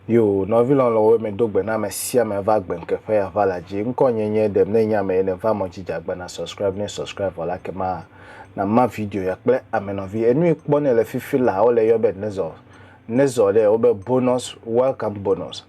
Yo, nɔvi lɔlɔ̃wo me do gbe na ame sia ame va gbe nkeƒe ya va la dzi. Ŋkɔ nye nye ɖem ne nye ame ye ne va mɔ dzi dzagba na subscribe ne subscribe vɔ la ke ma na ma video ya kple ame nɔvi. Enui kpɔ ne le fifi la wo le yɔ be nezɔ nezɔ ɖe wo be bonus welcome bonus.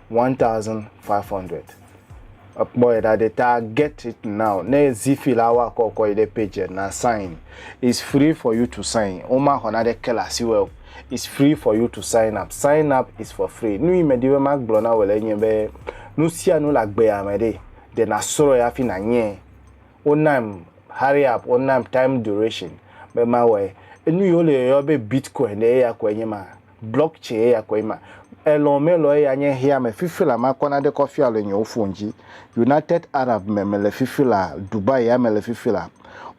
1500 ekpɔ yi ɖa ɖe ta get it now ne zifi la wa kɔ kɔ yi ɖe page na sign is free for you to sign wo ma xɔ na ɖe ke la si wo is free for you to sign up sign up is for free nu yi me di be ma gblɔ na wo le nye be nu sia nu la gbe ya me ɖe de na srɔ ya fi na nye wo nam hurry up wo nam time duration be ma wɔ enu yi wo le yɔ be bitcoin ɖe ya ko enye ma Blɔk tsɛ eya kɔe ma. Elɔ melɔ eya nye heya me fifi la makɔ naɖe kɔfia le nyewo fon dzi. United Arab me mele fifi la, Dubai ya mele fifi la.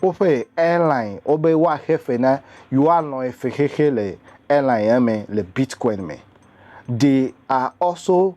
Woƒe airline wobe woaxe fe na yewoalɔ efexexe le airline ya me le Bitcoin me. They are also.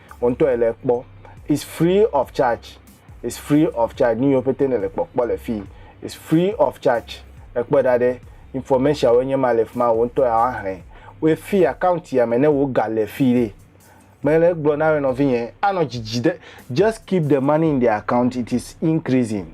wò ŋutɔ èle ekpɔ. It's free of charge, it's free of charge, nu yiwo pete nèle kpɔkpɔ le fii, it's free of charge, èkpɔe ɖa ɖe, information-awoe nye ma le fi ma, wò ŋutɔ ya woaxlẽ wo fii, account ya me ne wò ga le fii ɖe. Mele egblɔ na wò nɔvinye, anɔ dzidzi ɖe, just keep the money in the account, it is increasing.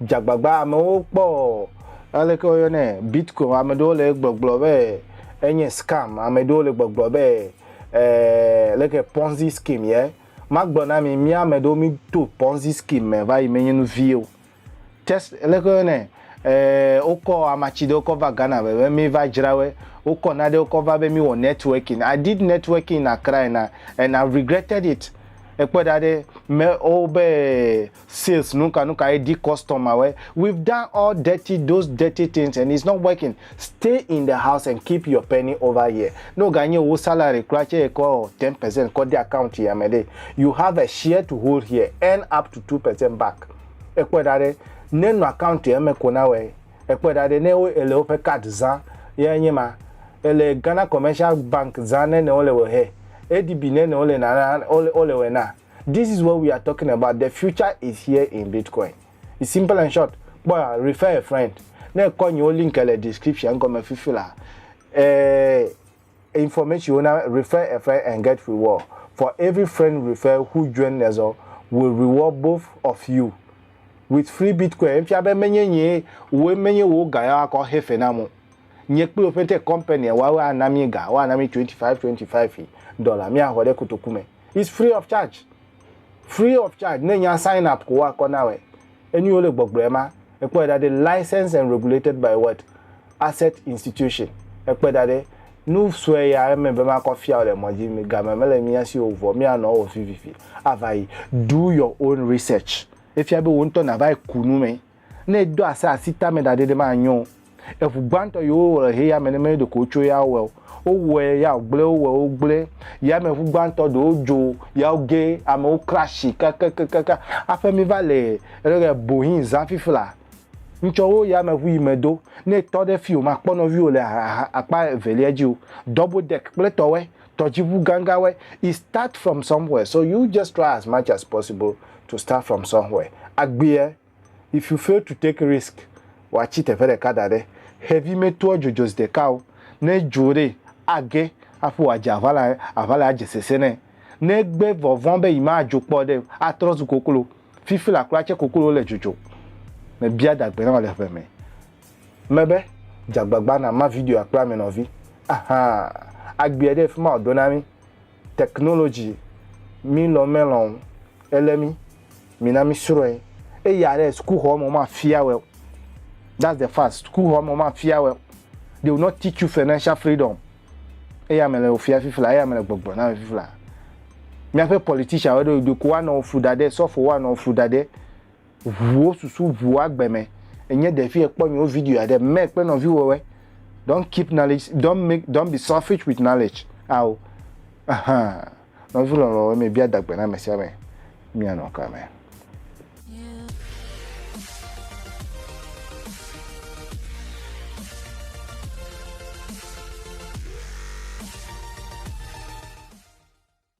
dzagbagba amewo kpɔ aleke woyɔnɛ bitcoin ame ɖewo le gbɔgblɔ be enye scam ame ɖewo le gbɔgblɔ be eh, leke ponzi scheme ye magblɔ na mi mi ame ɖewo mi to ponzi scheme me va yi menye nu vie o test leke woyɔnɛ eh, wokɔ amatsi ɖewo kɔ va Ghana be be mi va dzra we wokɔ na ɖewo kɔ va be mi wɔ networking I did networking in Accra and I, and I regretted it ekpɔ ɖa ɖe me wo be sales nuka nuka ye di customer we we've done all dirty those dirty things and it's not working stay in the house and keep your penny over here ne wo ga nye wo salary kura tse ye kɔ ten percent kɔ de account ya me ɖe you have a share to hold here earn up to two percent back ekpɔe ɖa ɖe ne nɔ account ya me ko na wɔ ekpɔe ɖa ɖe ne wo ele woƒe card za ya nye ma ele Ghana commercial bank za ne ne wo le wɔ he ADB ne ne wo le na na wo le wɔ na This is what we are talking about, the future is here in Bitcoin. It's simple and short, kpɔ ya, refer a friend. Ne èkɔ nyewo link le description gɔme fifi la, eh, information wo na refer a friend and get reward. For every friend refer who join us all, we reward both of you with free Bitcoin. Efia be menye nye wo menye wo ga ya akɔ hefe na mo. Nye kpli opete company wa wa na mi ga, wa na mi 25 25 dollar. Mi ahɔ ɖe kotoku me. It's free of charge. Free of charge. Ne nya sign up ko akɔ na wɛ. Enu yole gbɔgblɔɛ ma, ekpɔɛ ɖa ɖe license and regulated by what? Asset institution. Ekpɔɛ ɖa ɖe. Nu sue ya eme be makɔ fiawo le mɔ dzi. Game mele mía si o vɔ mía nɔ wɔ vivivi avayi. Do your own research. Efia be wò ŋutɔ nava yi ku nu me. Ne edo ase asi tame ɖa ɖe ɖe manyo o. Eŋu gbãtɔ yi wowɔ le xeyame ne menye ɖeko wotso ya wɔe o. Wowɔe ya wògblẽ, wowɔe wogblẽ. Yameŋu gbãtɔ ɖewo dzo ya woge, amewo crashi kakakakaka. Aƒe mi va le rere bohi zã fifla. Ŋtsɔ wo yameŋu yi me do. Ne etɔ ɖe fi o, makpɔ nɔviwo le akpa evelia dzi o. Double deck kple tɔwɛ. Tɔdziʋu ganganwoe, it start from somewhere so you just try as much as possible to start from somewhere. Agbeɛ, if you fail to take risk, woatsi teƒe ɖeka da ɖe. Xevi metoa dzo dzo ziɖeka o, ne edzo ɖee, age aƒu wòadze aʋala, aʋala adze sese nɛ. Ne egbe vɔ vɔ̃ be yemadzo kpɔ ɖe o, atrɔ zu koklo. Fifi la kura tse koklowo le dzodzom. Mebia dagbe na wò le ʋe me. Mebe, Dze agbagba nàma videoa kple ame nɔvi. Aha! Agbea ɖe fi ma wòdo na mí. Technology, mílɔ̃ melɔ̃ o, elé mí. Mina mísrɔ̃e. Eya ɖe, sukuxɔ me womafia wòe o. That's the fact. Sukuxɔ me womafia wòe o. They will not teach you financial freedom. Eya mele wò fia fifla, eya mele gbɔgblɔ na wò fifla. Míaƒe politicianwo ɖo ɖeko woanɔ wò flu ɖaɖɛ, sɔfowo woanɔ wò flu ɖaɖɛ. ʋuwo susu ʋuwo agbe me. Enye ɖevi ekpɔ nyewo video aɖe mɛ kple nɔviwɔwɛ. Don't keep knowledge, don't make, don't be selfish with knowledge. Ao, ahan, nɔvi lɔlɔ̃wo mi bia dagbe na me sia me. Mia nɔ ka me?